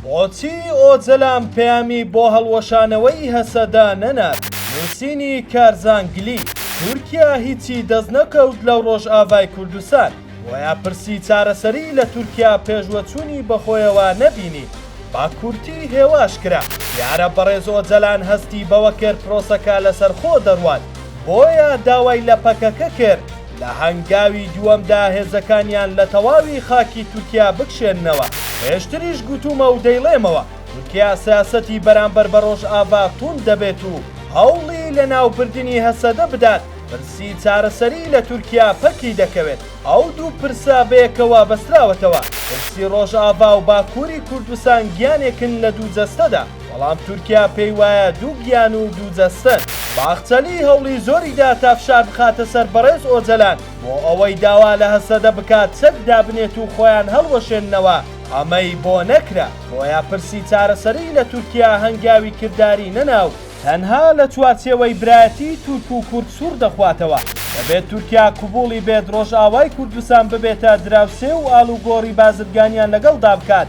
بۆچی ئۆجەلان پەیامی بۆ هەڵوەشانەوەی هەسەدە نەنارد؟ نووسینی، کارزانگلی، تورکیا هیچی دەستنەکەوت لە ڕۆژئاڤای کوردستان، بۆیە پرسی چارەسەری لە تورکیا پێشوەچوونی بەخۆیەوە نەبینی، بە کورتی هێواش کرا. دیارە بەڕێز ئۆجەلان هەستی بەوە کرد پرۆسەکە لەسەرخۆ دەڕوات، بۆیە داوای لە پەکەکە کرد، لە هەنگاوی دووەمدا هێزەکانیان لە تەواوی خاکی تورکیا بکشێننەوە، پێشتریش گوتوومە و دەیڵێمەوە، تورکیا سیاسەتی بەرامبەر بە ڕۆژئاڤا تووند دەبێت و هەوڵی لەناوبردنی هەسەدە بدات، پرسی چارەسەری لە تورکیا پەکی دەکەوێت، ئەو دوو پرسە بەیەکەوە بەستراوەتەوە، پرسی ڕۆژئاڤا و باکووری کوردستان گیانێکن لە دوو جەستەدا. بەڵام تورکیا پێی وایە دوو گیان و دوو جەستەن. باخچەلی هەوڵی زۆری دا تا فشار بخاتە سەر بەڕێز ئۆجەلان بۆ ئەوەی داوا لە هەسەدە بکات چەک دابنێت و خۆیان هەڵوەشێننەوە، ئەمەی بۆ نەکرا، بۆیە پرسی چارەسەریی لە تورکیا هەنگاوی کرداری نەنا و، تەنها لە چوارچێوەی برایەتیی تورک و کورد سووڕ دەخواتەوە، دەبێت تورکیا قبووڵی بێت ڕۆژئاوای کوردستان ببێتە دراوسێ و ئاڵوگۆڕی بازرگانیان لەگەڵدا بکات،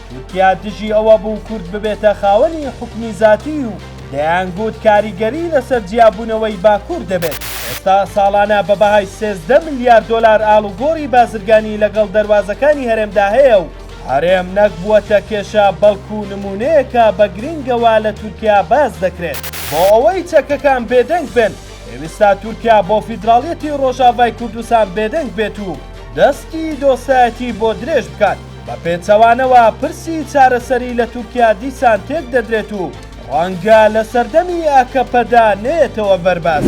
تورکیا دژی ئەوە بوو کورد ببێتە خاوەنی حوکمی زاتی و دەیانگوت کاریگەری لەسەر جیابوونەوەی باکوور دەبێت. ئێستا ساڵانە بە بەهای سێزدە ملیار دۆلار ئاڵوگۆڕی بازرگانی لەگەڵ دەروازەکانی هەرێمدا هەیە و هەرێم نەک بووەتە کێشە بەڵکو نموونەیەکە بە گرینگەوە لە تورکیا باس دەکرێت. بۆ ئەوەی چەکەکان بێدەنگ بن، پێویستە تورکیا بۆ فیدراڵیەتی ڕۆژاڤای کوردستان بێدەنگ بێت و دەستی دۆستایەتی بۆ درێژ بکات. بە پێچەوانەوە پرسی چارەسەری لە تورکیا دیسان تێک دەدرێت و ڕەنگە لە سەردەمی ئاکەپەدا نەیەتەوە بەر باس.